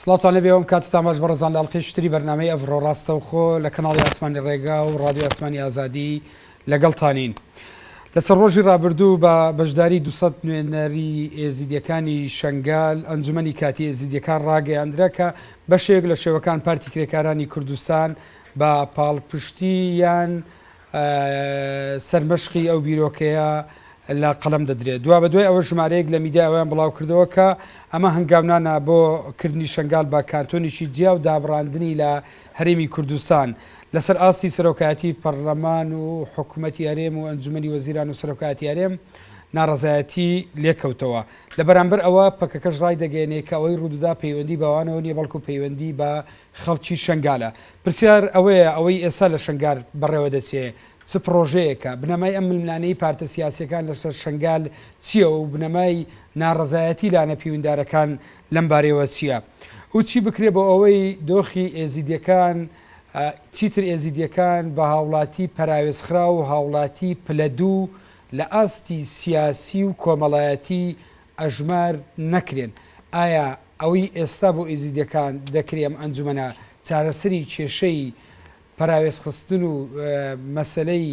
سڵاوتان لێبێ وەم کاتتان باش بەڕێزان لە ئەڵقەی شتری بەرنامەی ئەڤڕۆ ڕاستەوخۆ لە کەناڵی ئاسمانی ڕێگا و ڕادیۆ ئاسمانی ئازادی لەگەڵتانین لەسەر ڕۆژی ڕابردوو بە بەشداری 200 نوێنەری ئێزیدیەکانی شنگال ئەنجومنی کاتی ئێزیدیەکان ڕاگەیاندرا کە بەشێک لە شێوەکان پارتی کرێکارانی کوردستان بە پاڵپشتی یان سەرمەشقی ئەو بیرۆکەیە لە قەڵەم دەدرێت. دوابەدوای ئەوە ژمارەیەک لە میدیا ئەوەیان بڵاوکردەوە کە ئەمە هەنگاونانە بۆ کردنی شەنگال بە کانتۆنیکی جیا و دابڕاندنی لە هەرێمی کوردستان لەسەر ئاستی سەرۆکایەتی پەڕڵەمان و حکومەتی هەرێم و ئەنجومەنی وەزیران و سەرۆکایەتی هەرێم ناڕەزایەتی لێکەوتەوە. لە بەرامبەر ئەوە پەکەکەش ڕایدەگەیەنێ کە ئەوەی ڕوودەدا پەیوەندی بەوانەوە نیە بەڵکو پەیوەندی بە خەڵکی شەنگالە. پرسیار ئەوەیە ئەوەی ئێستا لە شەنگال بەڕێوە دەچێ چ پڕۆژەیەکە؟ بنەمای ئەم ململانێی پارتە سیاسییەکان لەسەر شەنگال چییە و بنەمای ناڕەزایەتی لانە پیوندارەکان لەم بارەیەوە چییە و چی بکرێ بۆ ئەوەی دۆخی ئێزیدییەکان چیتر ئێزیدییەکان بە هاوڵاتی پەراوێزخراو و هاوڵاتی پلە دوو لە ئاستی سیاسی و کۆمەڵایەتی ئەژمار نەکرێن، ئایا ئەوەی ئێستا بۆ ئێزیدیەکان دەکرێ ئەم ئەنجومەنە چارەسەری کێشەی پەراوێز خستن و مەسەلەی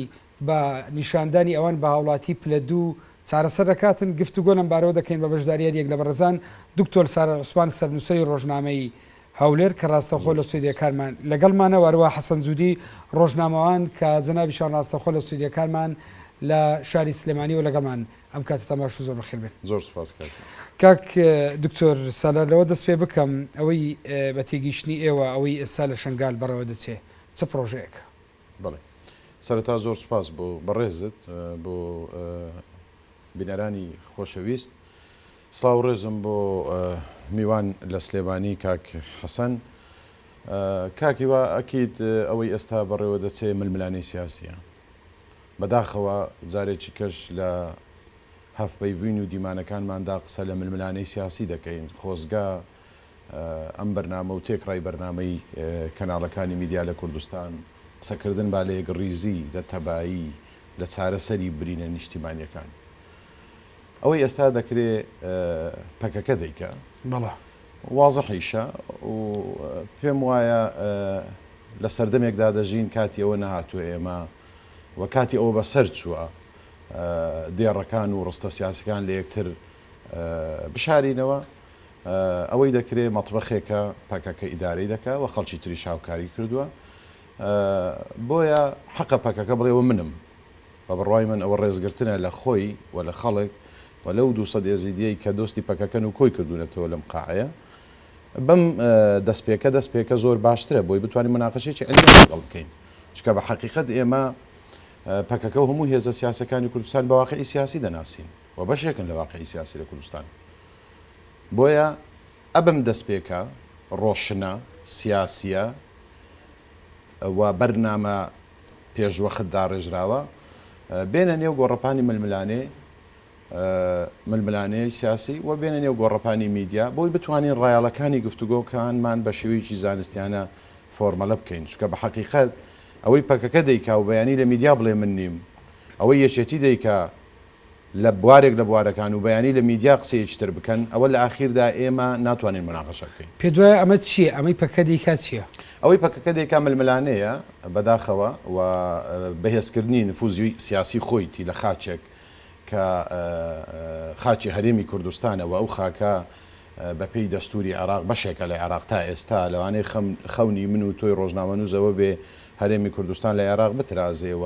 بە نیشاندانی ئەوان بە هاوڵاتی پلە دوو چارەسەر دەکاتن گفتوگۆ لەم بارەوە دەکەین بە بەشداریاری یەک لە بەڕێزان دکتۆر سارا عوسمان سەرنووسەری ڕۆژنامەی هەولێر کە ڕاستەخۆ لە سوێدیەکانمان لەگەڵمانە وەروە حەسەن جودی ڕۆژنامەوان کە جەنابیشان ڕاستەخۆ لە سوێدیەکانمان لە شاری سلێمانیەوە لەگەڵمان ئەم کاتتان باش و زۆر بەخێر بێن. زۆر سوپاس کاک گیان. کاک دکتۆر سالار لەوە دەست پێ بکەم ئەوەی بە تێگەیشتنی ئێوە ئەوەی ئێستا لە شەنگال بەڕێوە دەچێ چ پڕۆژەیەکە؟ بەڵێ سەرەتا زۆر سوپاس بۆ بەڕێزت بۆ بینەرانی خۆشەویست سڵاو و ڕێزم بۆ میوان لە سلێمانی کاک حەسەن کاک هیوا ئەکید ئەوەی ئێستا بەڕێوە دەچێ ململانێی سیاسییە بەداخەوە جارێکی کەش لە هەڤپەیڤین و دیمانەکانماندا قسە لە ململانێی سیاسی دەکەین، خۆزگە ئەم بەرنامە و تێکڕای بەرنامەی کەناڵەکانی میدیا لە کوردستان قسەکردن با لە یەکڕیزی، لە تەبایی، لە چارەسەری برینە نیشتیمانیەکان. ئەوەی ئێستا دەکرێ پەکەکە دەیکا. وازحیشە و پێم وایە لە سەردەمێکدا دەژین کاتی ئەوە نەهاتووە ئێمە و کاتی ئەوە بەسەر چووە دێڕەکان و ڕستە سیاسەکان لە یەکتر بشارینەوە ئەوەی دەکرێت مەطبەخێکە پەکەکە ئیدارەی دەکە و خەڵکی تریش هاوکاری کردووە بۆیە حەقە پەکەکە بڵێەوە منم بە بڕوای من ئەوە ڕێزگرتنە لە خۆی و لە خەڵک و لەو دوو سەد ئێزیدیەی کە دۆستی پەکەکەن و کۆی کردوونەتەوە لەم قاعەیە بەم دەستپێکە دەستپێکە زۆر باشترە بۆی بتوانین مناقەشێکی عەلمی لەگەڵ بکەین چکە بە حەقیقەت ئێمە پەکەکە و هەموو هێزە سیاسەکانی کوردستان بە واقعی سیاسی دەناسین و بەشێکن لە واقعی سیاسی لە کوردستان بۆیە ئەبم دەستپێکە ڕۆشنە سیاسیە و بەرنامە پێشوەخت داڕێژراوە بێنە نێو گۆڕەپانی ململانێ ململانێی سیاسی و بێنە نێو گۆڕەپانی میدیا بۆی بتوانین ڕایاڵەکانی گفتوگۆکانمان بە شێوەیەکی زانستیانە فۆرمەلە بکەین چکە بە حقیقت ئەوەی پەکەکە دەیکا و بەیانی لە میدیا بڵێ من نیم ئەوەی یەکێتی دەیکا لە بوارێک لە بوارەکان و بەیانی لە میدیا قسەیەکی تر بکەن، ئەوە لە ئاخیردا ئێمە ناتوانین موناقەشە بکەین. پێت وایە ئەمە چییە؟ ئەمەی پەککە دەیکات چییە؟ ئەوەی پەککە دەیکات ململانێیە بەداخەوە و بەهێزکردنی نفوزی سیاسی خۆیتی لە خاکێک کە خاکی هەرێمی کوردستانە و ئەو خاکە بە پێی دەستوری عێراق بەشێکە لە عێراق تا ئێستا لەوانەیە خەونی من و تۆی ڕۆژنامەنووس ئەوە بێ هەرێمی کوردستان لە عێراق بترازێ و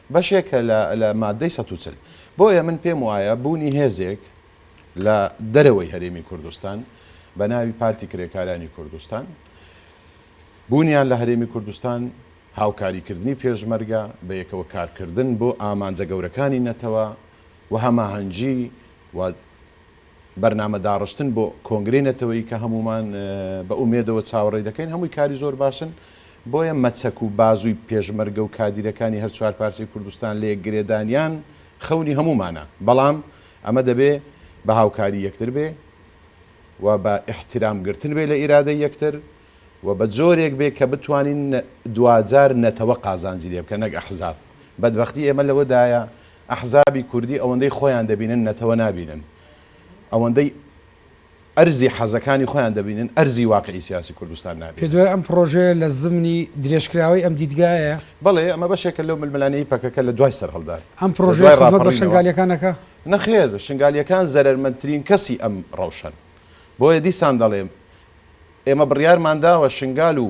بەشێکە لە لە ماددەی سەد و چل. بۆیە من پێم وایە بوونی هێزێک لە دەرەوەی هەرێمی کوردستان بە ناوی پارتی کرێکارانی کوردستان، بوونیان لە هەرێمی کوردستان، هاوکاریکردنی پێشمەرگە، بە یەکەوە کارکردن بۆ ئامانجە گەورەکانی نەتەوە و هەماهەنگی و. بەرنامە داڕشتن بۆ کۆنگرەی نەتەوەیی کە هەموومان بە ئومێدەوە چاوەڕێی دەکەین هەمووی کاری زۆر باشن، بۆیە مەچەک و بازووی پێشمەرگە و کادیرەکانی هەر چوار پارچەی کوردستان لە یەک گرێدانیان خەونی هەموومانە، بەڵام ئەمە دەبێ بە هاوکاری یەکتر بێ و بە ئیحتیرام گرتن بێ لە ئیرادەی یەکتر و بە جۆرێک بێ کە بتوانین دواجار نەتەوە قازانجی لێ بکا نەک ئەحزاب، بەدبەختی ئێمە لەوەدایە ئەحزابی کوردی ئەوەندەی خۆیان دەبینن نەتەوە نابینن ئەوەندەی ئەرزی حەزەکانی خۆیان دەبینن ئەرزی واقعی سیاسی کوردستان نابینن. پێدوای ئەم پڕۆژەیە لە زمنی درێژکراوەی ئەم دیدگایە؟ بەڵێ ئەمە بەشێکە لەو ململانێی پەکەکە لە دوای سەرهەڵدان، ئەم پڕۆژەیە خزمەت بە شنگالییەکان ئەکا؟ نەخێر، شنگالییەکان زەرەرمەندترین کەسی ئەم ڕەوشەن. بۆیە دیسان دەڵێم ئێمە بڕیارمانداوە شنگال و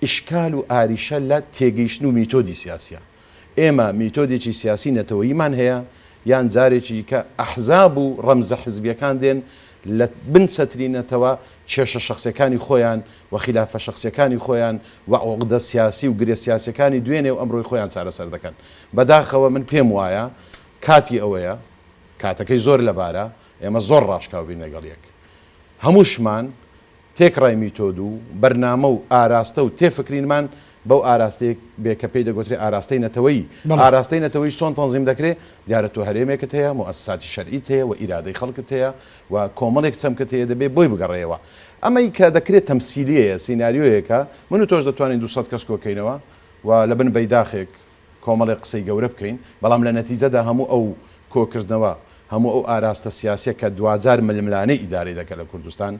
ئیشکال و ئاریشە لە تێگەیشتن و میتۆدی سیاسیە. ئێمە میتۆدێکی سیاسی نەتەوەییمان هەیە، یان جارێکی دیکە ئەحزاب و ڕەمزە حزبیەکان دێن لە بن چەتری نەتەوە کێشە شەخسیەکانی خۆیان و خیلافە شەخسیەکانی خۆیان و عوقدە سیاسی و گرێ سیاسیەکانی دوێنێ و ئەمرۆی خۆیان چارەسەر دەکەن. بەداخەوە من پێم وایە کاتی ئەوەیە، کاتەکەی زۆر لەبارە، ئێمە زۆر ڕاشکاو بین لەگەڵ یەک. هەمووشمان تێکڕای میتۆد و بەرنامە و ئاراستە و تێفکرینمان بەو ئاراستەیە بێ کە پێی دەگۆترێ ئاراستەی نەتەوەیی، بەڵێ. ئاراستەی نەتەوەیش چۆن تەنزیم دەکرێ؟ دیارە تۆ هەرێمێکت هەیە، موئەسساتی شەرعیت هەیە و ئیرادەی خەڵکت هەیە و کۆمەڵێک چەمکت هەیە دەبێ بۆی بگەڕێیەوە. ئەمەی کە دەکرێ تەمسیلییەیە، سیناریۆیەکە، من و تۆش دەتوانین دوو سەد کەس کۆ کەینەوە و لە بن بەیداخێک، کۆمەڵێک قسەی گەورە بکەین، بەڵام لە نەتیجەدا هەموو ئەو کۆکردنەوە، هەموو ئەو ئاراستە سیاسیە کە دواجار ململانێی ئیدارەی دەکەن لە کوردستان،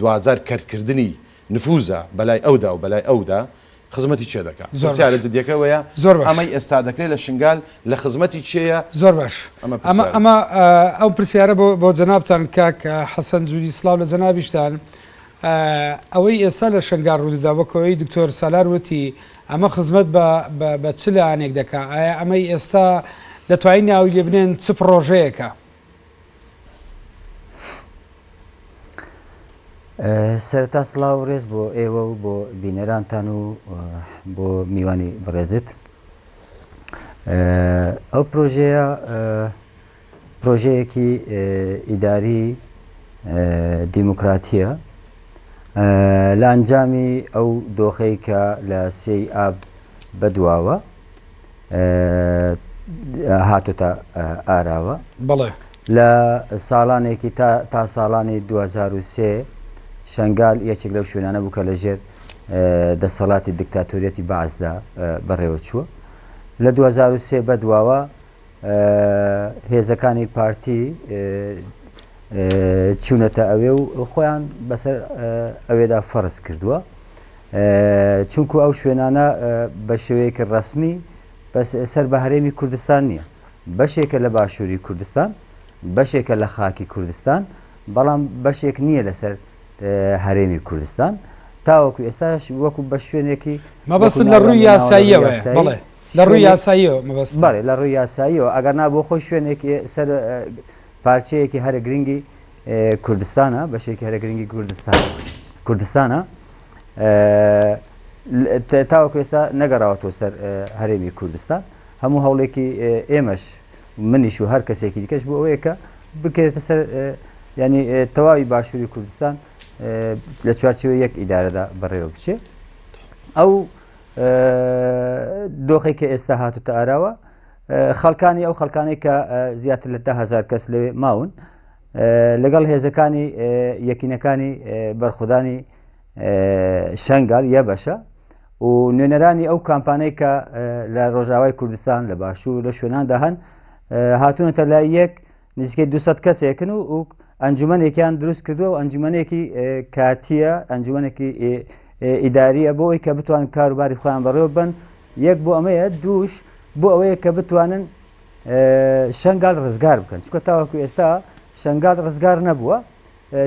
دواجار کەرتکردنی نفوزە بەلای ئەودا و بەلای ئەودا، خزمەتی کێ دەکا؟ پرسیارە جدیەکە ئەوەیە ئەمەی ئێستا دەکرێ لە شنگال لە خزمەتی کێیە؟ زۆر باش. ئەمە ئەو پرسیارە بۆ جەنابتان کاک حەسەن جوری سڵاو لە جەنابیشتان. ئەوەی ئێستا لە شنگال ڕوودەدا وەکو ئەوەی دکتۆر سالار وتی، ئەمە خزمەت بە بە چ لایەنێک دەکا؟ ئایا ئەمەی ئێستا دەتوانین ناوی لێ بنێن چ پڕۆژەیەکە؟ سەرەتا سڵاو و ڕێز بۆ ئێوە و بۆ بینەرانتان و بۆ میوانی بەڕێزت. ئەو پرۆژەیە پرۆژەیەکی ئیداری دیموکراتییە لە ئەنجامی ئەو دۆخەی کە لە سێی ئاب بەدواوە هاتۆتە ئاراوە بەڵێ. لە ساڵانێکی تا تا ساڵانی دوو هەزار و سێ شەنگال یەکێک لەو شوێنانە بوو کە لەژێر دەسەڵاتی دکتاتۆریەتی بەعسدا بەڕێوەچووە لە دوو هەزار و سێ بەدواوە هێزەکانی پارتی چوونەتە ئەوێ و خۆیان بەسەر ئەوێدا فەرز کردووە چونکو ئەو شوێنانە بە شێوەیەکی ڕسمی بەس سەر بە هەرێمی کوردستان نییە بەشێکە لە باشووری کوردستان بەشێکە لە خاکی کوردستان بەڵام بەشێک نییە لەسەر هەرێمی کوردستان تاوەکو ئێستاش وەکو بە شوێنێکی مەبەست لە ڕووی یاساییەوە بڵێ لە ڕووی شوێنێک یاساییەوە مەبەستە؟ بەڵێ لە ڕووی یاساییەوە ئەگەرنا بۆ خۆی شوێنێک ئێ سەر پارچەیەکی هەرە گرنگی ئێ کوردستانە بەشێکی هەرە گرنگی کوردستان کوردستانە ئێ لە تێ تاوەکو ئێستا نەگەڕاوەتەوە سەر ئێ هەرێمی کوردستان هەموو هەوڵێکی ئێ ئێمەش منیش و هەر کەسێکی دیکەش بۆ ئەوەیە کە بکەوێتە سەر ئێ یانی ئێ تەواوی باشووری کوردستان ئێ لە چوارچێوەی یەک ئیدارەدا بەڕێوە بچێ ئەو دۆخی کە ئێستا هاتوتە ئاراوە خەڵکانی ئەو خەڵکانەی کە زیاتر لە دههزار کەس لەوێ ماون لەگەڵ هێزەکانی یەکینەکانی بەرخودانی شنگال یە بەشە و نوێنەرانی ئەو کامپانەی کە لە ڕۆژاوای کوردستان لە باشوور لە شوێناندا هەن هاتوونەتە لای یەک نزیکەی دو سەد کەسێکن و و ئەنجومەنێکیان دروست کردووە و ئەنجومەنێکی کاتیە ئەنجومەنێکی ئیداریە بۆ ئەوی کە بتوان کاروباری خۆیان بەڕێوە بن یەک بۆ ئەمەیە دووش بۆ ئەوەیە کە بتوانن شنگال ڕزگار بکەن چکە تاوەکو ئێستا شنگال ڕزگار نەبووە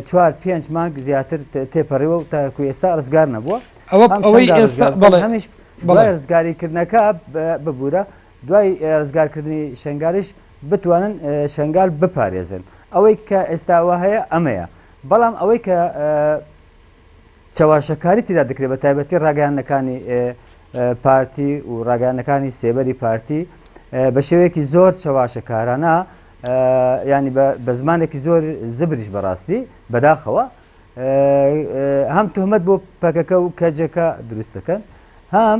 چوار پێنج مانگ زیاتر تێپەڕیوە و تاکو ئێستا ڕزگار نەبووە ئەوە ئەوەی ئێستا بەڵێ هەمیش بەڵێ ڕزگاریکردنەکە ببوورە دوای ڕزگارکردنی شنگاریش بتوانن شەنگال بپارێزن ئەوەی کە ئێستا وا هەیە ئەمەیە بەڵام ئەوەی کە چەواشەکاری تیدا دەکرێت بە تایبەتی ڕاگەیانەکانی پارتی و ڕاگەیانەکانی سێبەری پارتی بە شێوەیەکی زۆر چەواشەکارانە ینی بە زمانێکی زۆر زبریش بەڕاستی بەداخەوە هەم تهمەت بۆ پەکەکە و کەجەکە دروست دەکەن هەم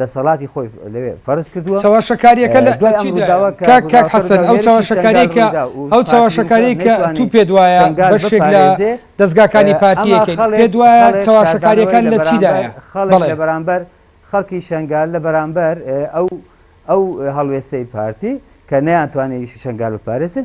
دەسەڵاتی خۆی لەوێ فەرز کردووە. چەواشەکاریەکە لە دوای ئەم ڕوداوە کە ڕوداوەکە لە هێرشی شەنگال ڕویدا و پارتی ووتوە نەیتوانی شەنگال بپارێزێ ئەما خەڵک شاربانوای لە بەرامبەر خەڵک لە بەرامبەر خەڵکی شەنگال لە بەرامبەر ئەو ئەو هەڵوێستەی پارتی کە نەیانتوانی شەنگال بپارێزن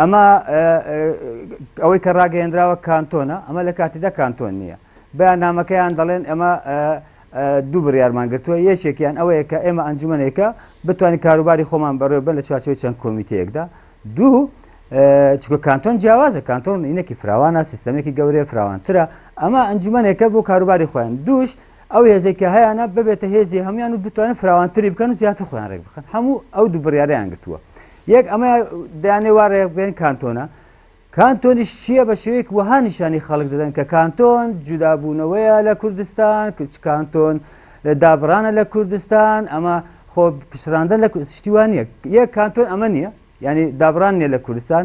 ئەمە ئەوەی کە ڕاگەیەنراوە کانتۆنە ئەمە لە کاتیدا کانتۆن نییە بەیان نامەکەیان دەڵێن ئەمە دوو بڕارمان گرتووە یەکێکیان ئەوەیە کە ئێمە ئەنجومنێکە بتوانین کاروباری خۆمان بەڕێ بە لە چوارچەوەی چەند کۆمیتەیەکدا دوو چکە کانتۆن جیاوازە کانتۆن ئینەکی فراوانە سیستەمێکی گەورەیە فراوانترە ئەمە ئەنجومنێکە بۆ کاروباری خۆیان دووش ئەو هێزێکە هەیەە ببێتە هێزی هەمویان و بتوانن فراوانتری بکەن و زیاتر خۆیان ڕێک بخن هەموو ئەو دوو بڕیاریان گرتووە یەک ئەمە دەیانێ وا رێک بێن کانتۆنە، کانتۆنیش چییە بە شێوەیەک وەها نیشانی خەڵک دەدەن کە کانتۆن جودابوونەوەیە لە کوردستان، کانتۆن دابڕانە لە کوردستان، ئەمە خۆ پچڕاندە لە شتی وا نییە، یەک کانتۆن ئەمە نییە یانی دابڕان نییە لە کوردستان،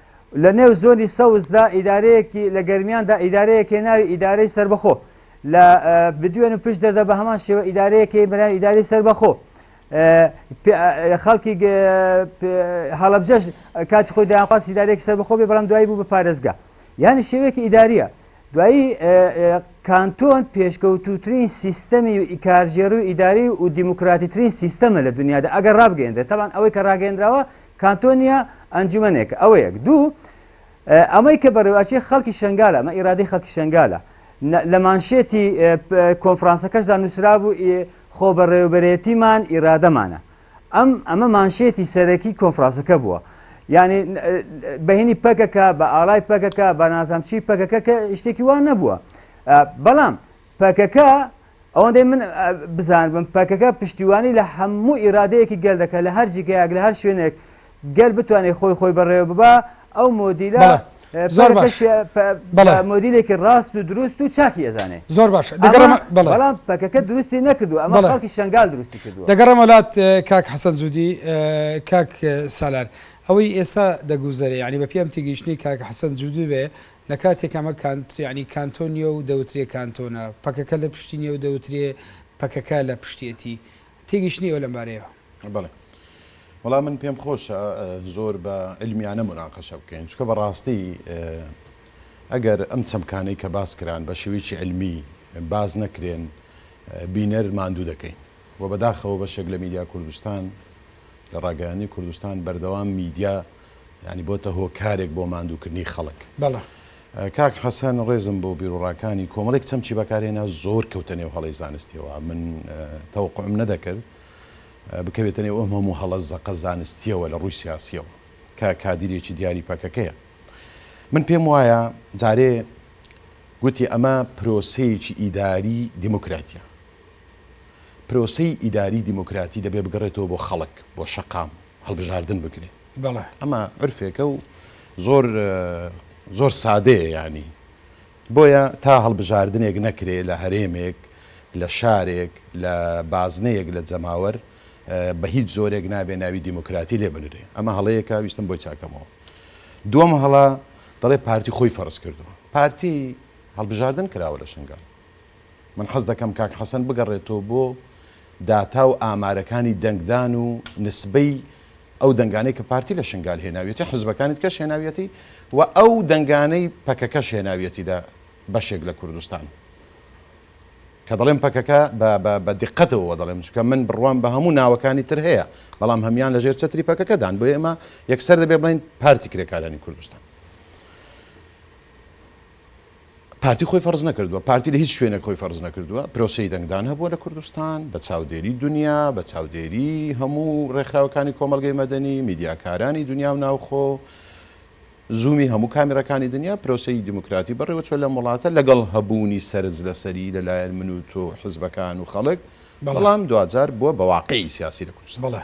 لە نێو زۆنی سەوزدا ئیدارەیەکی لە گەرمیاندا ئیدارەیەک هەیە ناوی ئیدارەی سەربەخۆ لە بدوێن و پشت دەردا بە هەمان شێوە ئیدارەیەک هەیە بەناوی ئیدارەی سەربەخۆ خەڵکی هەڵەبجەش کاتی خۆی دایانخواست ئیدارەیەکی سەربەخۆ بێ بەڵام دوایی بوو بە پارێزگا یانی شێوەیەکی ئیداریە دوایی کانتۆن پێشکەوتوترین سیستەمی و ئیکارژێڕی و ئیداری و دیموکراتیترین سیستەمە لە دنیادا ئەگەر ڕابگەێنرێت تاوان ئەوەی کە ڕاگەێنراوە کانتۆنیە ئەنجومەنێکە ئەوە یەک دوو ئەمەی کە بەڕێواچی خەڵکی شنگالە مە ئیرادی خەڵکی شنگالە لە مانشێتی کۆنفرانسەکەشدا نووسرابوو خۆ بەڕێوبەرێتیمان ئیرادەمانە ئەم ئەمە مانشێتی سەرەکی کۆنفرانسەکە بووە یعنی بەهینی پەکەکە بە ئاڵای پەکەکە بە نازامچی پەکەکە کە شتێکی وان نەبووە بەڵام پەکەکە، ئەوەندەی من بزانبم پەکەکە پشتیوانی لە هەموو ئیرادەیەکی گەل دەکات لە هەر جیگایەک لە هەر شوێنێک گەل بتوانێت خۆی خۆی بەڕێوە ببا ئەو مۆدیلە بەڵێ زۆر پەکەکەش باش پێ- پە- بەڵێ. بە مۆدیلێکی ڕاست و دروست و چاکی ئەزانێ زۆر باشە ئەمە دەگەڕێمە بەڵێ بەڵام پەکەکە دروستی نەکردووە ئەمە بەڵێ. خەڵکی شەنگال دروستی کردووە. دەگەڕێمە لات اه، کاک حەسەن جودی، اه، کاک اه، سالار ئەوەی ئێستا دەگوزەرێ یانی بەپێی ئەم تێگەیشتنەی کاک حەسەن جودی بێ لە کاتێک ئەمە کانت یانی کانتۆن نیە و دەوترێ کانتۆنە، پەکەکە لە پشتی نیە و دەوترێ پەکەکە لە پشتیەتی. تێگەیشتنیەوە لەم بارەیەوە؟ بەڵێ. وەڵا من پێم خۆشە زۆر بە علمیانە موناقەشە بکەین. چونکە بە ڕاستی ئەگەر ئەم چەمکانەی کە باس کران بە شێوەیەکی علمی باس نەکرێن بینەر ماندوو دەکەین. وە بەداخەوە بەشێک لە میدیا کوردستان لە ڕاگەیاندنی کوردستان بەردەوام میدیا یانی بۆتە هۆکارێک بۆ ماندووکردنی خەڵک. بەڵێ. کاک حەسەن ڕێزم بۆ بیروڕاکانی کۆمەڵێک چەمکی بەکارهێنا زۆر کەوتە نێو هەڵەی زانستیەوە من تەوقعم نەدەکرد بکەوێتە نێو ئەم هەموو هەڵە زەقە زانستیەوە لە ڕووی سیاسیەوە کە کادیرێکی دیاری پەکەکەیە من پێم وایە جارێ گوتی ئەمە پرۆسەیەکی ئیداری دیموکراتیە پرۆسەی ئیداری دیموکراتی دەبێ بگەڕێتەوە بۆ خەڵک بۆ شەقام هەڵبژاردن بکرێت بەڵێ ئەمە عرفێکە و زۆر زۆر سادەیە یانی بۆیە تا هەڵبژاردنێک نەکرێ لە هەرێمێک لە شارێک لە بازنەیەک لە جەماوەر بە هیچ زۆرێک نابێ ناوی دیموکراتی لێ بنرێ ئەمە هەڵەیەکە ویستم بۆی چاکەمەوە دووەم هەڵە دەڵێ پارتی خۆی فەرز کردووە پارتی هەڵبژاردن کراوە لە شنگال من حەز دەکەم کاک حەسەن بگەڕێتەوە بۆ داتا و ئامارەکانی دەنگدان و نسبەی ئەو دەنگانەی کە پارتی لە شنگال هێناویەتی حزبەکانی دیکەش هێناویەتی و ئەو دەنگانەی پەکەکەش هێناویەتی لە بەشێک لە کوردستان کە دەڵێم پەکەکە بە دقەتەوە دەڵێم چکە من بڕوام بە هەموو ناوەکانی تر هەیە بەڵام هەمان لەژێر چەتری پەکەکەدان بۆ ئێمە یەکسەر دەبێ بڵین پارتی کرێکارانی کوردستان پارتی خۆی فەرز نەکردووە، پارتی لە هیچ شوێنێک خۆی فەرز نەکردووە، پرۆسەی دەنگدان هەبووە لە کوردستان، بە چاودێری دونیا، بە چاودێری هەموو ڕێکخراوەکانی کۆمەڵگەی مەدەنی، میدیاکارانی دونیا و ناوخۆ، زوومی هەموو کامێراکانی دونیا، پرۆسەی دیموکراتی بەڕێوە چووە لەم وڵاتە، لەگەڵ هەبوونی سەرنج لەسەری لە لایەن من و تۆ و حزبەکان و خەڵک، بەڵام دواجار بووە بە واقعی سیاسی لە کوردستان.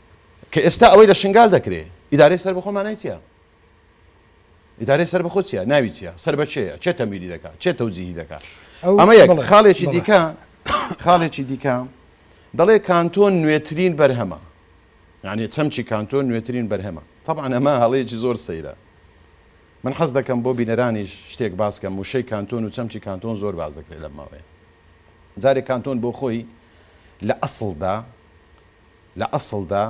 کە ئێستا ئەوەی لە شنگال دەکرێ ئیدارەی سەربەخۆ مانای چیە؟ ئیدارەی سەربەخۆ چیە؟ ناوی چیە؟ سەر بە کێیە؟ کێ تەمویلی دەکا؟ کێ تەوجیهی دەکا؟ ئەمە یەک خاڵێکی دیکە خاڵێکی دیکە دەڵێ کانتۆن نوێترین بەرهەمە یعنی چەمچی کانتۆن نوێترین بەرهەمە طبعا ئەمە هەڵەیەکی زۆر سەیرە من حەز دەکەم بۆ بینەرانیش شتێک باس کەم وشەی کانتۆن و چەمچی کانتۆن زۆر باز دەکرێت لەم ماوەیە جارێک کانتۆن بۆ خۆی لە ئەسڵدا لە ئەسڵدا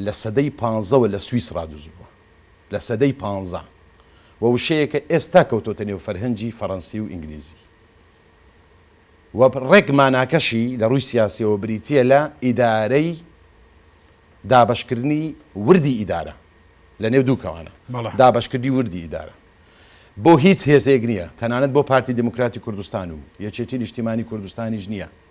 لە سەدەی پانزەوە لە سویسڕا دزبووە، لە سەدەی پانزە، و وشەیەکە ئێستا کەوتۆتە نێو فەرهەنگی فەڕەنسی و ئینگلیزی و ڕێک ماناکەشی لە ڕووی سیاسییەوە بریتییە لە ئیدارەی دابەشکردنی وردی ئیدارە لە نێو دوو کەوانە، دابەشکردنی وردی ئیدارە بۆ هیچ هێزێک نییە، تەنانەت بۆ پارتی دیموکراتی کوردستان و یەکێتی نیشتیمانی کوردستانیش نییە.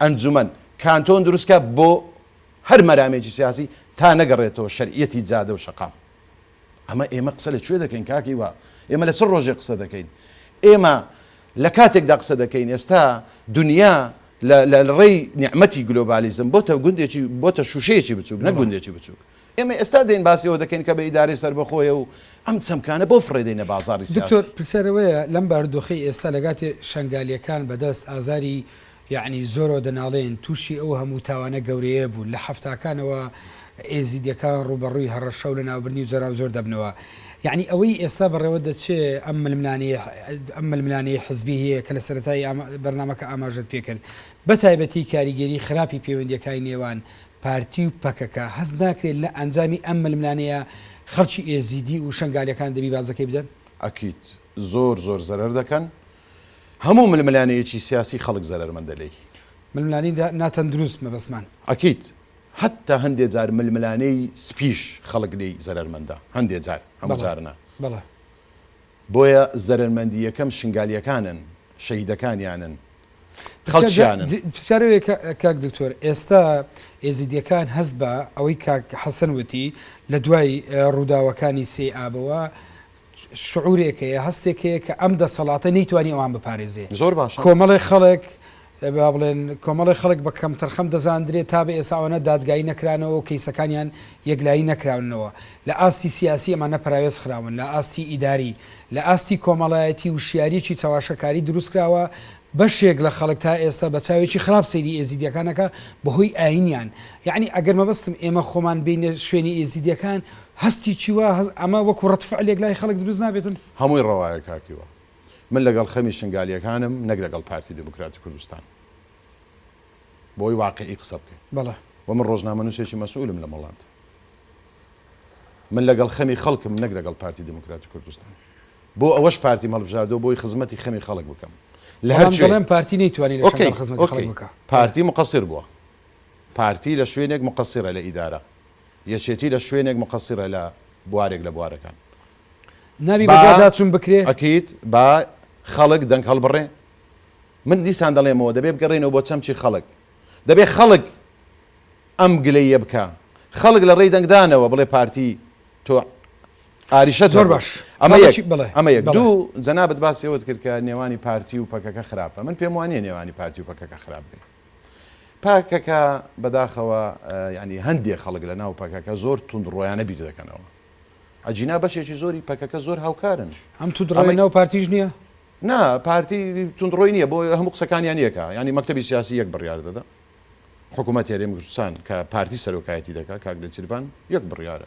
ئەنجومەن، کانتۆن دروستکە بۆ هەر مەرامێکی سیاسی تا نەگەڕێتەوە شەرعیەتی جادە و شەقام. ئەمە ئێمە قسە لە کوێ دەکەین کاک هیوا؟ ئێمە لە چ ڕۆژێک قسە دەکەین؟ ئێمە لە کاتێکدا قسە دەکەین ئێستا دونیا لە لە ڕێی نیعمەتی گلۆبالیزم بۆتە گوندێکی بۆتە شووشەیەکی بچووک نەک گوندێکی بچووک. ئێمە ئێستا دێین باسی ئەوە دەکەین کە بە ئیدارەی سەربەخۆیە و ئەم چەمکانە بۆ فڕێ دەینە بازاڕی سیاسی. دکتۆر پرسیار ئەوەیە لەم بارودۆخەی ئێستا لەگاتێ شەنگالییەکان بەدەست ئازاری یەعنی زۆرەوە دەناڵێن تووشی ئەو هەموو تاوانە گەورەیە بوون، لە حەفتاکانەوە ئێزیدیەکان ڕووبەڕووی هەڕەشە و لەناوبردنی و جۆراوجۆر دەبنەوە، یەعنی ئەوەی ئێستا بەڕێوە دەچێ ئەم ململانێیە ئەم ململانێی حزبییه کە لە سەرەتای بەرنامەکە ئاماژەت پێ کرد بە تایبەتی کاریگەری خراپی پێوەندیەکای نێوان پارتی و پەکەکە هەست ناکرێت لە ئەنجامی ئەم ململانێیە خەڵکی ئێزیدی و شەنگالیەکان دەبی بازەکەی بدەن؟ ئەکید زۆر زۆر زەرەر دەکەن هەموو ململانێیەکی سیاسی خەڵک زەرەرمەندە لێی. ململانێی ناتەندروست مەبەستمان. ئەکید. هەتا هەندێ جار ململانێی سپیش خەڵک لێی زەرەرمەندە. هەندێ جار، هەموو جار نا. بەڵێ. بۆیە زەرەرمەندی یەکەم شنگالییەکانن، شەهیدەکانیانن، خەڵکیانن. پرسیارەوەیە کاک دکتۆر، ئێستا ئێزیدییەکان هەست بە ئەوەی کاک حەسەن وتی لە دوای ڕووداوەکانی سێی ئابەوە، شعورێک هەیە، هەستێک هەیە کە ئەم دەسەڵاتە نەیتوانی ئەوان بپارێزێ. زۆر باشە. کۆمەڵێک خەڵک، با بڵێن کۆمەڵێک خەڵک بە کەمتەرخەم دەزاندرێ، تا بە ئێستا ئەوانە دادگایی نەکرانەوە و کەیسەکانیان یەکلایی نەکراونەوە. لە ئاستی سیاسی ئەمانە پەراوێز خراون، لە ئاستی ئیداری، لە ئاستی کۆمەڵایەتی وشیارییەکی چەواشەکاری دروست کراوە، بەشێک لە خەڵک تا ئێستا بە چاوێکی خراپ سەیری ئێزیدییەکان ئەکا بە هۆی ئایینیان. یەعنی ئەگەر مەبەستم ئێمە خۆمان بێینە شوێنی ئێزیدییەکان، هەستێکی وا هەست ئەمە وەکو ڕەد فعلێک لای خەڵک دروست نابێتن؟ هەمووی ڕەوایە کاک هیوا. من لەگەڵ خەمی شنگالییەکانم نەک لەگەڵ پارتی دێموکراتی کوردستان. بۆ ئەوەی واقیعی قسە بکەین. بەڵێ. و من ڕۆژنامەنووسێکی مەسئولم لەم وڵاتە. من لەگەڵ خەمی خەڵکم نەک لەگەڵ پارتی دێموکراتی کوردستان. بۆ ئەوەش پارتیم هەڵبژاردووە بۆی خزمەتی خەمی خەڵک بکەم. لە هەر کوێ. بەڵام دەڵێن پارتی نەیتوانی لە شنگال خزمەتی خەڵک بکا. ئۆکەی. پارتی موقەسیر بووە. پارتی لە شوێنێک موقەسیرە لە ئیدارە. یەکێتی لە شوێنێک مقصرە لە بوارێک لە بوارەکان. نابی با بەدواداچون بکرێ؟ ئەکید با خەڵک دەنگ هەڵبڕێ. من دیسان دەڵێمەوە دەبێ بگەڕێینەوە بۆ چەمکی خەڵک. دەبێ خەڵک ئەم گلەییە بکا. خەڵک لە ڕێی دەنگدانەوە بڵێ پارتی تۆ ئاریشەت زۆر هەبوو. باش. ئەمە خەڵکی یەک. بەڵێ. ئەمە یەک. بەڵێ. دوو، جەنابت باسی ئەوەت کرد کە نێوانی پارتی و پەکەکە خراپە. من پێم وا نییە نێوانی پارتی و پەکەکە خراپ بێ. پەکەکە بەداخەوە یانی هەندێ خەڵک لە ناو پەکەکە زۆر توند ڕۆیانە بیر دەکەنەوە ئەجینا بەشێکی زۆری پەکەکە زۆر هاوکارن ئەم تو دڕی ناو پارتیش نییە نا پارتی توندڕۆی نییە بۆ هەموو قسەکانیان یەکە ینی مەکتتەبی سیاسی یەک بڕیار دەدا حکوومەت هێرێم کوردستان کە پارتی سەرۆکایەتی دەکات کاک لە چیرڤان یەک بڕیاە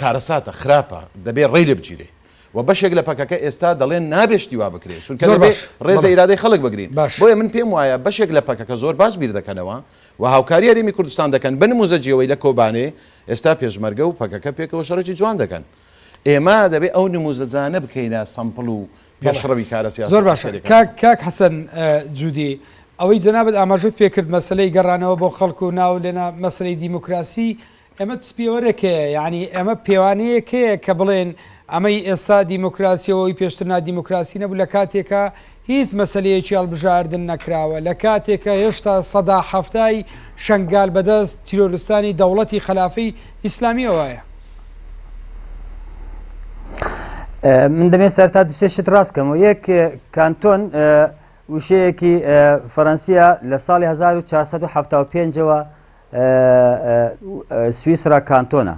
کارەساتە خراپە دەبێ ڕێی لێ بگیرێ و بەشێک لە پەکەکە ئێستا دەڵێن نابێ شتی وا بکرێت چونکە زۆر دەبێ باش ڕێز لە بەڵێ ئیرادەی خەڵک بگرین باش بۆیە من پێم وایە بەشێک لە پەکەکە زۆر باش بیر دەکەنەوە و هاوکاری هەرێمی کوردستان دەکەن بە نمووزەجی ئەوەی لە کۆبانێ ئێستا پێشمەرگە و پەکەکە پێکەوە شەڕێکی جوان دەکەن ئێمە دەبێ ئەو نمووزەجانە بکەینە سەمپڵ و بەڵێ پێشڕەوی کارە زۆر سیاسی و باشە عەسکەریەکان کاک بکەین. کاک حەسەن ئە جودی ئەوەی جەنابت ئاماژەت پێ کرد مەسەلەی گەڕانەوە بۆ خەڵک و ناو لێنا مەسەلەی دیموکراسی ئەمە چ پێوەرێکەیە؟ یانی ئەمە پێوانەیەکەیە کە بڵێن ئەمەی ئێستا دیموکراسیەوە ئەوی پێشتر نادیموکراسی نەبوو لە کاتێکا هیچ مەسەلەیەکی هەڵبژاردن نەکراوە لە کاتێکە هێشتا سەدا حەفتای شنگال بەدەست تیرۆرستانی دەوڵەتی خلافی ئیسلامیەوەیە. من دەمێ سەرتا دوسێشت ڕاستکەم و یەک کانتۆن وشەیەکی فەەنسیە لە ساڵی 1970ەوە سویسرا کانتۆنە،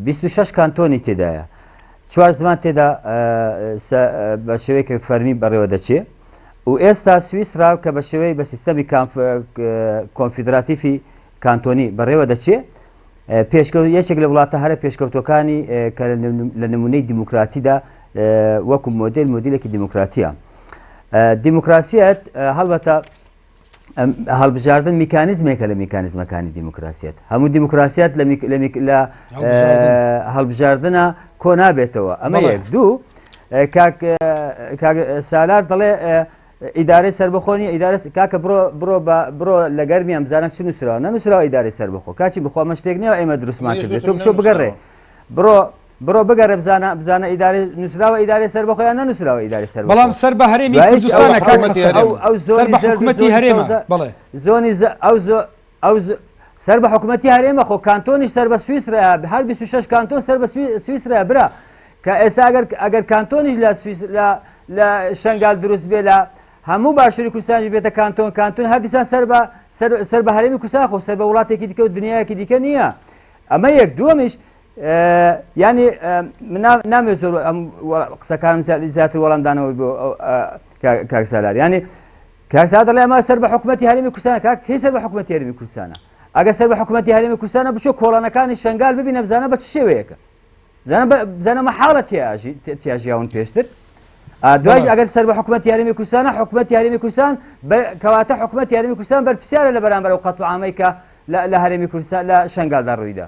بیست و شەش کانتۆنی تێدایە، چوار زمان تێدا بە شێوەیەکی فەرمی بەڕێوەدەچێ و ئێستا سویسرا کە بە شێوەی بە سیستەمی کۆنفیدراتیفی کانتۆنی بەڕێوە دەچێ، پێشکەوت یەکێک لە وڵاتە هەرە پێشکەوتوەکانی کە لە نمونەی دیموکراتیدا وەکو مۆدێل مۆدیلێکی دیموکراتیە. دیموکراسیەت هەڵبەتە هەڵبژاردن میکانیزمێکە لە میکانیزمەکانی دیموکراسیت هەموو دیموکراسیات لە هەڵبژاردنە کۆ نابێتەوە ئەمە یەک دوو سالار دەڵێ ئیدارەی سربەخۆنی ئیدارە کاکە بڕۆ بڕۆ بڕۆ لە گەرمیان بزانە چ نووسراوە نەنووسراوە ئیدارەی سربەخۆ کاچی بخۆمە شتێک نیە ئێمە دروستمان بچۆ بگەڕێ بڕۆ بڕۆ بگەڕێ بزانە بزانە ئیدارەی نووسراوە ئیدارەی سەربەخۆ یان نەنووسراوە ئیدارەی سەربەخۆ بەڵام سەر بە هەرێمی دوایش ئەو کوردستانە کاک حکوومەتی حەسەن هەرێم ئەو ئەو سەر زۆنی بە زەرد و حکوومەتی زۆنی هەرێمە سەوزە بەڵێ زۆنی ز ئەو زۆ ئەو ز سەر بە حکوومەتی هەرێمە خۆ کانتۆنیش سەر بە سویسرا هەر 26 کانتۆن سەر بە سوی سویسرا برا کە ئێستا ئەگەر ئەگەر کانتۆنیش لە سویس لە لە شنگال دروست بێ لە هەموو باشووری کوردستانیش بێتە کانتۆن کانتۆن هەر دیسان سەر بە سەر سەر بە هەرێمی کوردستان خۆ سەر بە وڵاتێکی دیکە و دنیایەکی دیکە نییە ئەمە یەک دووەمیش یانی من نامێ زۆر ئەم قسەکانم زیاتر وەڵام دانەوەی بۆ کاکسالار یانی کاکسا دەڵێ ئەمە سەر بە حکوومەتتی هەرمی کوردستان کاک کەی سەر بە حکوومەتتی هەرمی کوردستانە ئەگە سەر بە حکوومەتتی هەرمی کوردستانە بچۆ کۆڵانەکانی شنگال ببینە بزانە بە چ شێوەیەکە بزانەمە حاڵە تیاژی تیاژیاون پێشتر دوای ئەگەر سەر بە حکوومەت یاریمی کوردستانە حکوومەت یاریمی کوردستان کەواتە حکوومەت یاریمی کوردستان بەرپسیارە لە بەرامبەر و قەتوعاامەی کە لە هەرێمی کوردستان لە شنگالدا ڕوویدا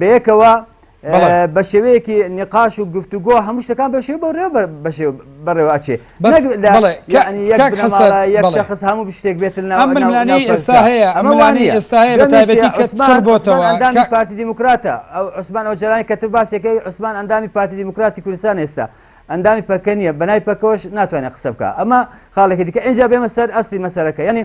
بەیەکەوە بەشێوەیەکی نقاش و گفتوگۆ هەموو شتەکان بەشێ بۆ رێ بەڕێوە ئەچێ شخص هەموو شتێک بێت ئەملانی ئێستا هەیە ئەملانی ئێستا هەیە بە تایبەتی کە سەر بۆتەوە پارتی دیموکراتە ئەو عوسمان ئەو جرانی کە تو باسێکەکەی عوسمان ئەندامی پارتی دیموکراتی کوردستان ئێستا ئەندامی پەکە نیە بەنای پەکەوەش ناتوانێت قسە بکە ئەمە خاڵێکی دیکە ئەجا بێمە سەر ئەستی مەسەرەکە ینی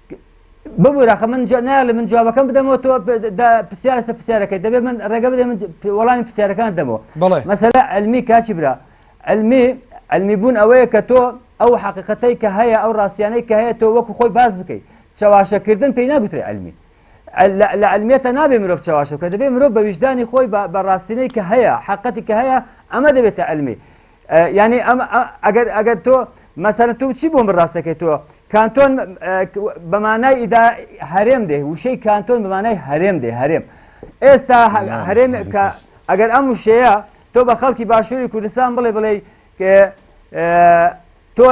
ببورە خە من جا نایەڵێ من جوابەکەم بدەمەوە تۆ پرسیارە سە پرسیارەکەی دەبێ من ڕێگە بدەێ من وەڵامی پرسیارەکان دەمەوە بڵێ مەسەلا علمی کاچی برا علمی علمی بوون ئەوەیە کە تۆ ئەو حقیقەتەی کە هەیە ئەو ڕاستیانەی کە هەیە تۆ وەکو خۆی باز بکەیت چەواشەکردن پێی ناگوترێ علمی لە علمیێتە نابێ مرۆڤ چەواشە کە دەبێ مرۆڤ بە ویژدانی خۆی بە ڕاستینەی کە هەیە حقەتی کە هەیە ئەمە دەبێتە علمی یانی ئەم ئەگەر ئەگەر تۆ مەسەرە تۆ چی بۆم بڕاستەکەی تۆ کانتۆن بەمانای ئیدا هەرێم دێ وشەی کانتۆن بەمانای هەرێم دێ هەرێم ئێستا هەرێم کە ئەگەر ئەم وشەیە تۆ بە خەڵکی باشووری کوردستان بڵێ بڵێ تۆ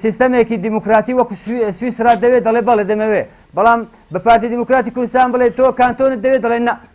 سیستەمێکی دیموکراتی وەکو سویسرا دەوێت دەڵێ بەڵێ دەمەوێ بەڵام بە پارتی دیموکراتی کوردستان بڵێ تۆ کانتۆنت دەوێت دەڵێن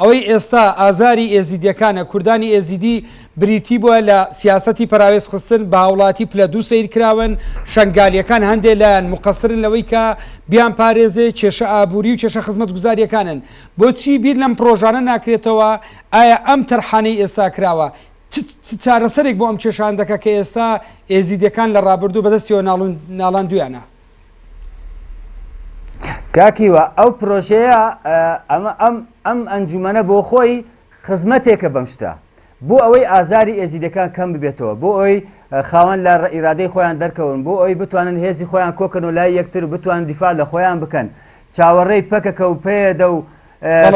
ئەوەی ئێستا ئازاری ئێزیدیەکانە، کوردانی ئێزیدی بریتی بووە لە سیاسەتی پەراوێز خستن بە هاوڵاتی پلە دوو سەیر کراون، شەنگالیەکان هەندێ لایان موقەسرن لەوەی کە بیان پارێزێ، کێشە ئابووری و کێشە خزمەتگوزاریەکانن، بۆچی بیر لەم پرۆژانە ناکرێتەوە، ئایا ئەم تەرحانەی ئێستا کراوە چ چ چارەسەرێک بۆ ئەم کێشە هەندەکە کە ئێستا ئێزیدیەکان لە ڕابردوو بەدەستیەوە ناڵاندویانە؟ کاک هیوا ئەو پرۆژەیە ئەمە ئەم ئەم ئەنجومەنە بۆ خۆی خزمەتێکە بەم شتە بۆ ئەوەی ئازاری ئێزیدەکان کەم ببێتەوە بۆ ئەوی خاوەن لە ئیرادەی خۆیان دەرکەون بۆ ئەوی بتوانن هێزی خۆیان کۆکەن و لای یەکتر بتوان دیفاع لە خۆیان بکەن چاوەڕێی پەکەکە و پێدە و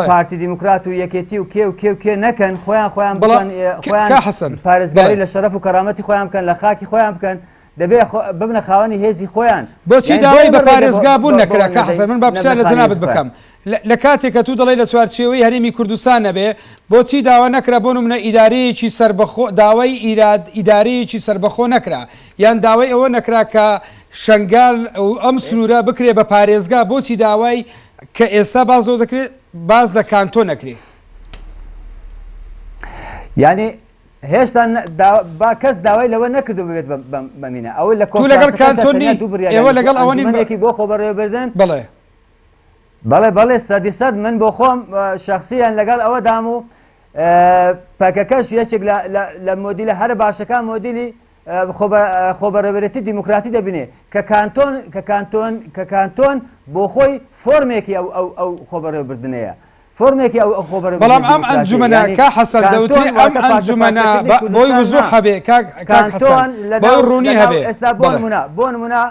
پارتی دیموکرات و یەکێتی و کێ و کێ و کێ نەکەن خۆیان خۆیان بڵان خۆیان پارێزگاری لە شەرف و کەرامەتی خۆیان بکەن لە خاکی خۆیان بکەن دەبێ ببنە خاوەنی هێزی خۆیان. بۆچی داوای بە پارێزگا بوون نەکرا؟ کاک حەسەن من با پرسیار لە جەنابت بکەم، لە کاتێک کە توو دەڵێی لە چوارچێوەی هەرێمی کوردستان نەبێ، بۆچی داوا نەکرا بۆ نمونە ئیدارەیەکی سەربەخۆ، داوای ئیراد، ئیدارەیەکی سەربەخۆ نەکرا؟ یان داوای ئەوە نەکرا کە شەنگال و ئەم سنوورە بکرێ بە پارێزگا، بۆچی داوای کە ئێستا باس لەوە دەکرێ باس لە کانتۆ نەکرێ؟ یانی. هێشتا با کەس داوای لەوە نەکردو ببێت بە مینا ئەوە لە تو لەگەڵ کانتۆن کۆنفرانسەکەشدا تەنیا نی دوو بڕیاریان ئێوە لەگەڵ دەرچووە ئەوە نین بە ئەنجومەنێکی بۆ خۆبەڕێوەبردن بەڵێ بەڵێ بەڵێ سەدی سەد من بۆ خۆم ئە، شەخسیەن لەگەڵ ئەوەدام و ئە، پەکەکەش یەکێک لە لە لە مۆدیلە هەرە باشەکان مۆدیلی خۆبەڕێوەرێتی دیموکراتی دەبینێ کە کانتۆن کە کانتۆن کە کانتۆن بۆ خۆی فۆرمێکی ئەو ئەو ئەو خۆبەڕێوەبردنەیە فۆرمێکی ئەو ئەو خۆبەڕێ بەڵام ئەم ئەنجومەنە کا حەسەن دەوتری ئەم ئەنجومەنە بۆی وزوح هەبێ کاک حەسەن بۆ ڕوونی هەبێ بۆ نمونە بۆ نمونە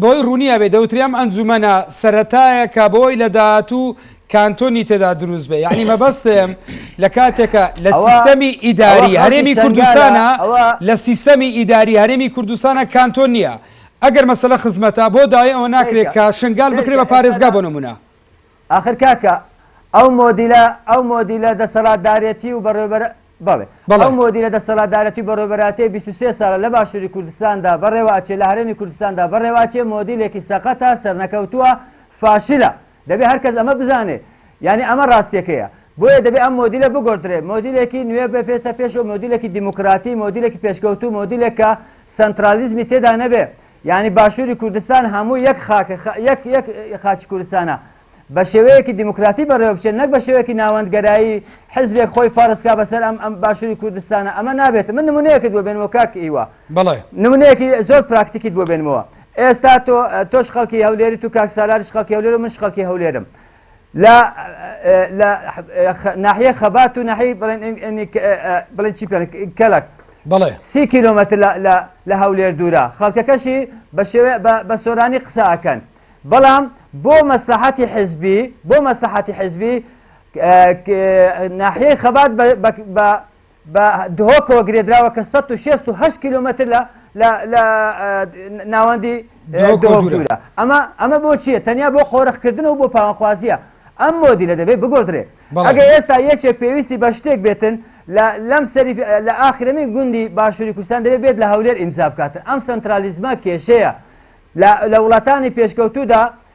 بەوەی ڕوونیا بێ دەوترێ ئەم ئەنجومەنە سەرەتایەکە بۆی لە داهاتوو کانتۆنی تێدا دروست بێ یعنی مەبەستم لە کاتێکە لە سیستەمی ئیداری هەرێمی کوردستانە لە سیستەمی ئیداری هەرێمی کوردستانە کانتۆن نییە ئەگەر مەسەلە خزمەتە بۆ داوای ئەوە ناکرێت کە شنگال بکرێت بە پارێزگا بۆ نمونە ئاخر کاکە ئەو مۆدیلە ئەو مۆدیلە دەسەڵاتدارێتی و بەڕێوەبەر بەڵێ بەڵێ. ئەو مۆدیلە دەسەڵاتدارێتی و بەڕێوەبەرایەتیەی بیست و سێ ساڵە لە باشووری کوردستاندا بەڕێوە ئەچێ لە هەرێمی کوردستاندا بەڕێوە ئەچێ مۆدیلێکی سەقەتە سەرنەکەوتووە فاشلە دەبێ هەر کەس ئەمە بزانێ یانی ئەمە ڕاستیەکەیە بۆیە دەبێ ئەم مۆدیلە بگۆڕدرێ مۆدیلێکی نوێ بێتە پێشەوە مۆدیلێکی دیموکراتی مۆدیلێکی پێشکەوتوو مۆدیلێک کە سەنترالیزمی تێدا نەبێ یانی باشوری کوردستان هەموو یەک خاکە خە یەک یەک خاکی کوردستانە بە شێوەیەکی دیموکراتی بەڕێوە بچێت نەک بە شێوەیەکی ناوەندگەرایی حزبێک خۆی فەرز کا بەسەر ئەم ئەم باشوری کوردستانە ئەمە نابێت من نمونەیەکت بۆ بێنمەوە کاک هیوا بەڵێ نمونەیەکی زۆر پراکتیکیت بۆ بێنمەوە ئێستا تۆ تۆش خەڵکی هەولێریت و کاک سالاریش خەڵکی هەولێر و منش خەڵکی هەولێرم لە لە ناحیەی خەبات و ناحیەی بڵێن بڵێن چی پێ کەلک بەڵێ سی کیلۆمەتر لە هەولێر دوورە خەڵکەکەشی بە شێوێ بە سۆرانی قسە ئەکەن بەڵام بۆ مەسلحەتی حزبی بۆ مەسلحەتی حزبی ناحیەی خەبات بە بە دهۆکەوە گرێدراوە کە سەد و شێست و هەشت کیلۆمەتر لە لە لە ناوەندی دهۆک دوورە. ئەمە ئەمە بۆ چییە؟ تەنیا بۆ قۆرخکردن و بۆ پاوانخوازییە. ئەم مۆدیلە دەبێت بگۆڕدرێ. ئەگەر ئێستا یەکێک پێویستی بە شتێک بێتن لە لەم سەری لە ئاخرەمین گوندی باشووری کوردستان دەبێت بێت لە هەولێر ئیمزا بکاتن. ئەم سەنترالیزمە کێشەیە. لە لە وڵاتانی پێشکەوتوودا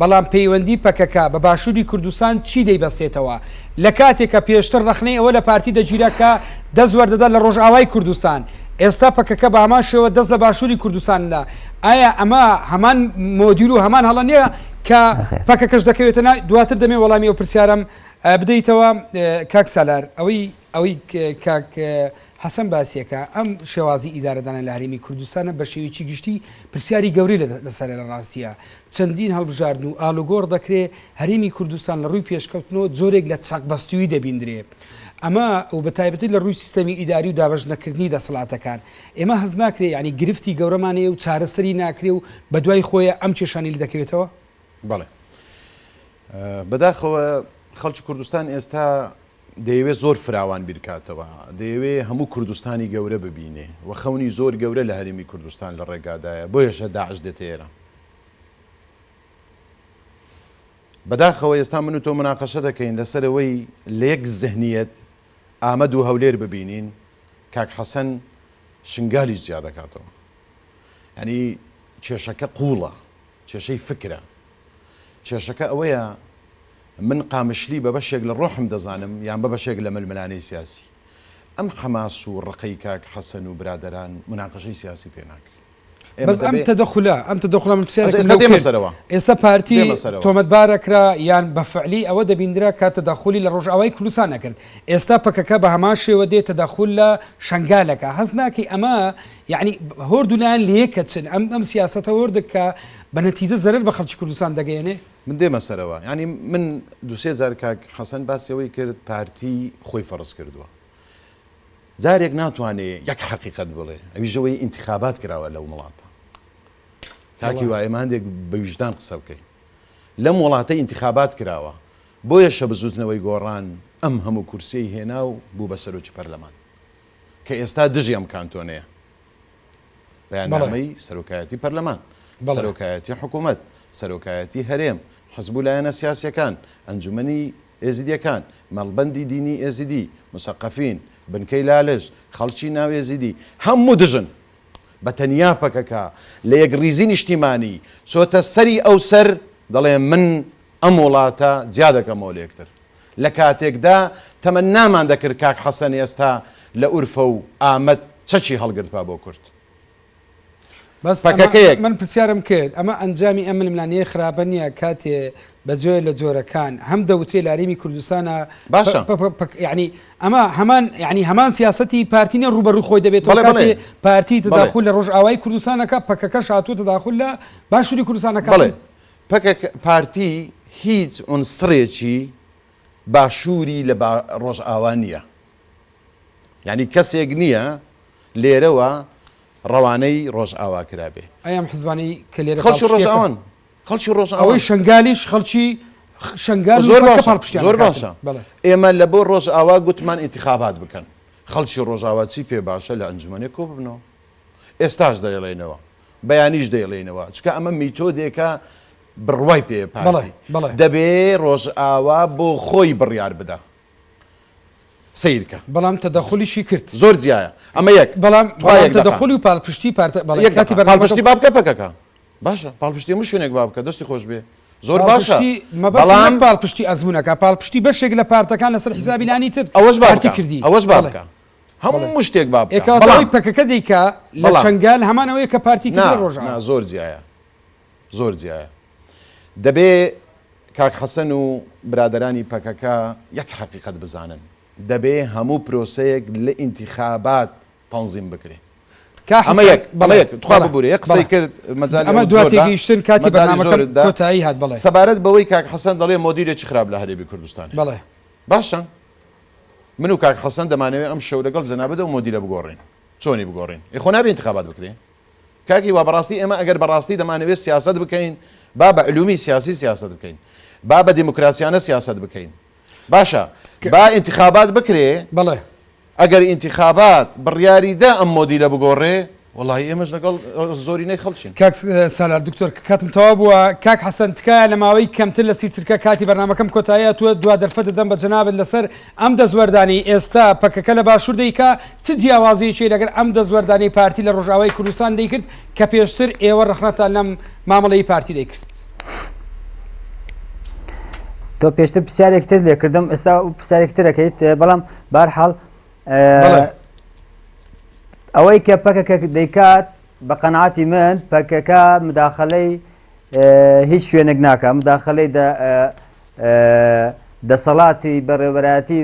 بەڵام پەیوەندی پەکەکە بە باشوری کوردستان چی دەیبەستێتەوە لە کاتێک کە پێشتر ڕەخنەی ئەوە لە پارتی دەگیرا کە دەست وەردەدات لە ڕۆژئاوای کوردستان ئێستا پەکەکە بە هەمان شێوە دەست لە باشوری کوردستان دا ئایا ئەمە هەمان مۆدیل و هەمان هەڵە نیە کە نەخێر پەکەکەش دەکەوێتە نا دواتر دەمێ وەڵامی ئەو پرسیارەم ئە، بدەیتەوە ئە، کاک سالار ئەوەی ئەوەی ک، کاک ئە، حەسەن باسیەکا، ئەم شێوازی ئیدارەدانە لە هەرێمی کوردستانە بە شێوەیەکی گشتی پرسیاری گەورەی لەسەرە لە ڕاستیا چەندین هەڵبژاردن و ئالوگۆڕ دەکرێ هەرێمی کوردستان لە ڕووی پێشکەوتنەوە جۆرێک لە چەقبەستوویی دەبیندرێ ئەمە و بە تایبەتی لە ڕووی سیستەمی ئیداری و دابەش نەکردنی دەسەڵاتەکان ئێمە هەست ناکرێ یانی گرفتی گەورەمان هەیە و چارەسەری ناکرێ و بە دوای خۆیە ئەم کێشانەی لێ دەکەوێتەوە؟ بەڵێ بەداخەوە خەڵکی کوردستان ئێستا دەیەوێ زۆر فراوان بیرکاتەوە، دەیەوێ هەموو کوردستانی گەورە ببینێ و خەونی زۆر گەورە لە هەرێمی کوردستان لە ڕێگادایە، بۆیەشە داعش دێتە ئێران. بەداخەوە ئێستا من و تۆ مناقەشە دەکەین لەسەر ئەوەی لە یەک زهنیەت ئامەد و هەولێر ببینین، کاک حەسەن شنگالیش جیا دەکاتەوە. یانی کێشەکە قووڵە. کێشەی فکرە. کێشەکە ئەوەیە من قامشلی بە بەشێک لە ڕۆحم دەزانم یان بە بەشێک لە ململانێی سیاسی. ئەم حەماس و ڕقەی کاک حەسەن و برادەران موناقەشەی سیاسی پێ ناکرێ. ئێمە بەس ئەم دەبێ تەدەخولە، ئەم تەدەخولە من پرسیارێکم ئەجا ئێستا لەو دێمە کرد، سەرەوە. ئێستا پارتی دێمە سەرەوە. تۆمەتبار ئەکرا یان بە فعلی ئەوە دەبیندرا کە تەدەخولی لە ڕۆژئاوای کوردستان ئەکرد، ئێستا پەکەکە بە هەمان شێوە دێ تەدەخول لە شەنگال ئەکا، هەست ناکەی ئەمە یەعنی هۆردو لایەن لەیەکەچن ئەم ئەم سیاسەتە هۆردە کە بە نەتیجە زەرەر بە خەڵکی کوردستان دەگەیەنێ؟ من دێمە سەرەوە یەعنی من دوو سێ جار کاک حەسەن باسی ئەوەی کرد پارتی خۆی فەرز کردووە جارێک ناتوانێ یەک حەقیقەت بڵێ ئەویش ئەوەی ئینتخابات کراوە لەو وڵاتە کاکی وایە ماندێک بە ویژدان قسە بکەین لەم وڵاتە ئینتخابات کراوە بۆیە شە بزوتنەوەی گۆڕان ئەم هەموو کورسیەی هێنا و بوو بە سەرۆکی پەرلەمان کە ئێستا دژی ئەم کانتۆنەیە بەیاننامەی سەرۆکایەتی پەرلەمان سەرۆکایەتی حکوومەت سەرۆکایەتی هەرێم حزب و لایەنە سیاسەکان ئەنجومنی ئێزیدیەکان مەڵبەندی دینی ئێزیدی مسەقەفین بنکەی لالش خەڵکی ناو ئێزیدی هەموو دژن بە تەنیا پەکەکە لە یەکڕیزی نیشتیمانی چۆتە سەری ئەو سەر دەڵێ من ئەم وڵاتە جیا دەکەمەوە لەیەکتر لەکاتێکدا تەمەنامان دەکرد کاک حەسەن ئێستا لە ئورفە و ئامەد چەکی هەڵگرتبا بۆ کورد بەس ئەمە من پرسیارم کرد ئەمە ئەنجامی ئەم ململانێ خراپە نییە کاتێ بە جۆێ لە جۆرەکان هەم دەوتێ لاریمی کوردستانە باشە ینی ئەمە هەمان ینی هەمان سیاستی پارتینە ڕوبەڕوو خۆی دەبێت پارتی تداخل لە ڕۆژ ئاوای کوردستانەکە پەکەکە شاتوە تداخل لە باشووری کوردستانەکە پەکەکە پارتی هیچ عونسڕێکی باشوری لە با ڕۆژئاوا نیە یانی کەسێک نیە لێرەوە ڕەوانەی ڕۆژئاوا کرابێ. ئەی ئەم حزبانەی کە لێرە خەڵکی پاڵپشتیەکەن؟ ڕۆژئاوان خەڵکی ڕۆژئاوان. ئەوەی شەنگالیش خەڵکی خ شەنگال و زۆر پەککە باشە پاڵپشتیان زۆر دەکاتن. باشە بەڵێ. ئێمە لە بۆ ڕۆژئاوا گوتمان ئینتیخابات بکەن خەڵکی ڕۆژئاوا چی پێ باشە لە ئەنجومەنێ کۆ ببنەوە ئێستاش دەیڵێینەوە بەیانیش دەیڵێینەوە چونکە ئەمە میتۆدێکە بڕوای پێیە پارتی دەبێ ڕۆژئاوا بۆ خۆی بڕیار بدا سیرکە بەڵام تەدەخلیشی کرد زۆر جیایە ئەمە یەک بەڵام تەدەخلی و پاڵپشتی پارتە پاڵپشتی با بکە پەکەکە باشە پاڵپشتی هەموو شوێنێک با بکە دەستی خۆش بێ زۆر باشە بەڵام پاڵپشتی ئەزمونونەکە پاڵپشتی بەشێک لە پارتەکان لەسەر حیزابیلانی تر ئەوەش بارتی کردی ئەوەش بارکە بەڵێ هەموو شتێک با ئێ بکا کەواتە ئەوەی بەڵام پەکەکە دەیکا لە بەڵام شەنگال هەمان ئەوەیە کە پارتی نا کردووە نا ڕۆژاوا. زۆر جیایە زۆر جیایە دەبێ کاک حەسەن و برادەرانی پەکەکە یەک حەقیقەت بزانن دەبێ هەموو پرۆسەیەک لە ئینتیخابات تەنزیم بکرێ کا ئەمە حەسەن یەک ئەمە بەڵێ یەک تخوا بەڵێ ببورە یەک قسەی بەڵێ کرد مەجالی ئەمە ئەوت دوا زۆر دا تێگەیشتن کاتی مەجالی بەرنامەکەم زۆرت دا کۆتایی هات بەڵێ. سەبارەت بەوەی کاک حەسەن دەڵێ مۆدیرێکی خراپ لە هەرێمی کوردستانە بەڵێ. باشە من و کاک حەسەن دەمانەوێ ئەم شەو لەگەڵ جەنابت ئەو مۆدیلە بگۆڕین چۆنی بگۆڕین ئەی خۆ نابێ ئینتخابات بکرێ کاک هیوا بەڕاستی ئێمە ئەگەر بەڕاستی دەمانەوێت سیاسەت بکەین با بە علومی سیاسی سیاست بکەین با بە دیموکراسیانە سیاست بکەین باشە با ئینتخابات بکرێ بەڵێ ئەگەر ئینتخابات بڕیاری دا ئەم مۆدیلە بگۆڕێ وەڵاهی ئێمەش لەگەڵ زۆرینەی خەڵکین. کاک سالار دکتۆر کاتم تەواو بووە کاک حەسەن تکایە لە ماوەی کەمتر لە سی چرکە کاتی بەرنامەکەم کۆتایی هاتووە دوا دەرفەت دەدەم بە جەنابت لەسەر ئەم دەستوەردانەی ئێستا پەکەکە لە باشوور دەیکا چ جیاوازیەکی لەگەر ئەم دەستوەردانەی پارتی لە ڕۆژئاوای کوردستان دەیکرد کە پێشتر ئێوە ڕەخنەتان لەم مامەڵەی پارتی دەیکرد تۆ پێشتر پرسیارێکتر لێکردم ئێستا پرسیارێکترەکەیت بەڵام بارحاڵ ئەوەی کە پەکەکە دەیکات بە قەنعاتی من پەکەکە مداخلەی هیچ شوێنێک ناکە مداخلەی دەسەڵاتی بەڕێوەبەتی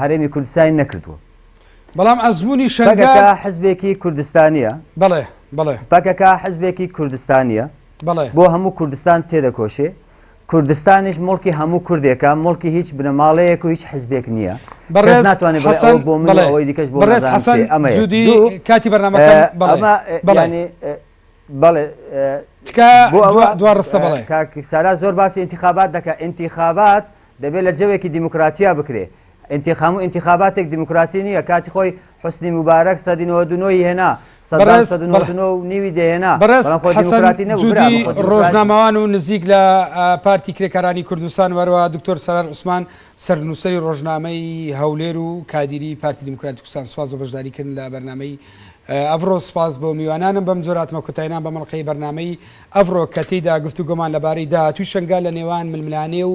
هەرێمی کوردستانی نەکردووە بەڵام ئەزمموی شەرگا حزبێکی کوردستانیە بڵێ بڵێ پەکەکە حزبێکی کوردستانیە بڵێ بۆ هەموو کوردستان تێدەکۆشێ کوردستانیش موڵکی هەموو کوردێکە، موڵکی هیچ بنەماڵەیەک و هیچ حزبێک نییە. کەس بەڕێز ناتوانێت بڵێت حەسەن، ئەوە بۆ منە و بەڵێ. ئەوەی دیکەش بۆ بەڕێز نازانم حەسەن کێ. ئەمە یەک. جودی، دوو، کاتی بەرنامەکەم، ئە، بەڵێ. ئەمە، ئە، بەڵێ. یانی، ئە، بەڵێ، ئە، تکایە بۆ ئەوە، دوا، دوا ڕستە، ئە، بەڵێ. کاک سارا زۆر باسی ئینتیخابات دەکات، ئینتیخابات دەبێت لە جەوێکی دیموکراتیا بکرێت، ئینتیخامو ئینتیخاباتێک دیموکراسی نییە کاتی خۆی حوسنی موبارەک سەدی نۆەد و نۆ ی هێنا سەدام سەد و نۆەد و نۆ و نیوی دەهێنا بەڵام خۆ دیموکراتی نەبوو برا بەڕێز حەسەن جودی ڕۆژنامەوان و نزیک لە پارتی کرێکارانی کوردستان و هەروەها دکتۆر سالار عوسمان سەرنووسەری ڕۆژنامەی هەولێر و کادیری پارتی دیموکراتی کوردستان سوپاس بۆ بەشداری کردن لە بەرنامەی ئەڤڕۆ سوپاس بۆ میوانانم بەم جۆرە هاتمە کۆتایینا بەم ئەڵقەی بەرنامەی ئەڤڕۆ کە تێیدا گفتوگۆمان لەبارەی داهاتووی شەنگال لە نێوان ململانێ و